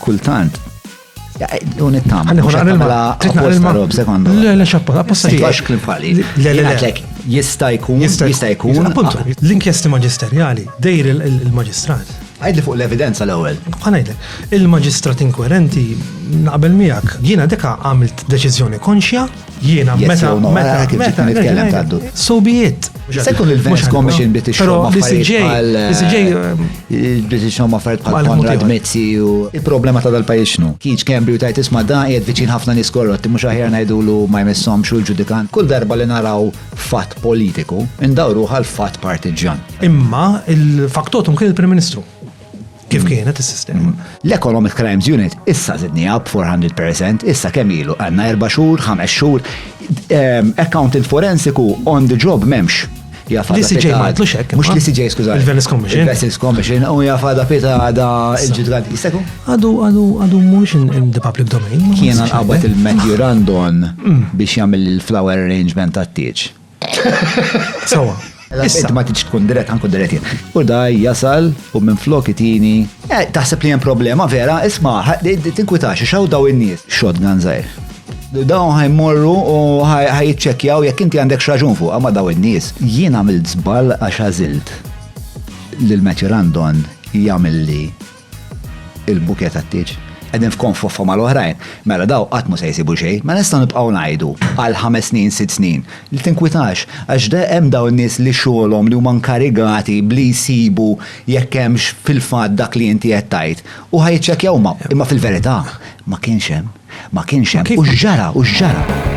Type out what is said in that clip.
kultant. U nittama. Għanni għanni l-mala. Titna rob sekondu. Le, le, xappa, apposta li. Għax klim fali. Le, le, le. Jista jkun, jista jkun. Appuntu, ah. l-inkjesti maġisterjali, dejr il-maġistrat. Għajdli fuq l-evidenza l-ewel. Għanajdli, il-maġistrat inkoerenti naqbel miegħek, jiena deka għamilt deċiżjoni konxja Jiena, meta, meta, meta, nitkellem taddu. So be it. Sekun il-Venice Commission bit ix-xogħol ma' affarijiet bħal. Bit ix-xogħol ma' affarijiet bħal Konrad Mezzi u. Il-problema ta' dal-pajjiż xnu. Kiġ Kembri u tajt isma' da qiegħed viċin ħafna nies korrotti mhux aħjar ngħidulu ma jmissom xul ġudikant. Kull darba li naraw fatt politiku, indawru għal fatt partiġjan. Imma il-faktotum kien il-Prim Ministru. kif kienet is-sistema. L-Economic Crimes Unit issa zidnija b'400%, issa kemm ilu għandna erba' xhur, ħames xhur, ehm, accountant forensiku on the job m'hemmx. Li CJ ma jitlux hekk. Mhux li CJ skuża. Il-Venice Commission. Il-Venice Commission u jafada pita għada il-ġudgant. Jistaku? Għadu għadu għadu mhux in the public domain. Kien għabbat il-Matthew Randon mm. biex jagħmel il-flower arrangement għat-tieġ. Sawa. Issa ma tiġ tkun dirett għanku dirett jien. U daj jasal u minn flok itini. Eh, taħseb li hemm problema vera, isma' tinkwitax xaw daw in-nies. Shotgun żgħir. Dawn ħajmorru u ħajċċekkjaw jekk inti għandek xraġun fuq ma daw in-nies. Jien għamilt żball għax għażilt lil Matthew Randon jagħmel li il-bukett għat-tieġ qegħdin f'konfoffa mal-oħrajn, mela daw qatt mhu se jsibu xejn, ma nistgħu nibqgħu ngħidu għal ħames snin, sitt snin, li tinkwitax għax hemm dawn in-nies li xogħolhom li huma nkarigati b'li jsibu jekk hemmx fil-fatt dak li inti qed tgħid u ħa jiċċekkjaw huma, imma fil-verità ma kienx hemm, ma kienx hemm u x'ġara u x'ġara.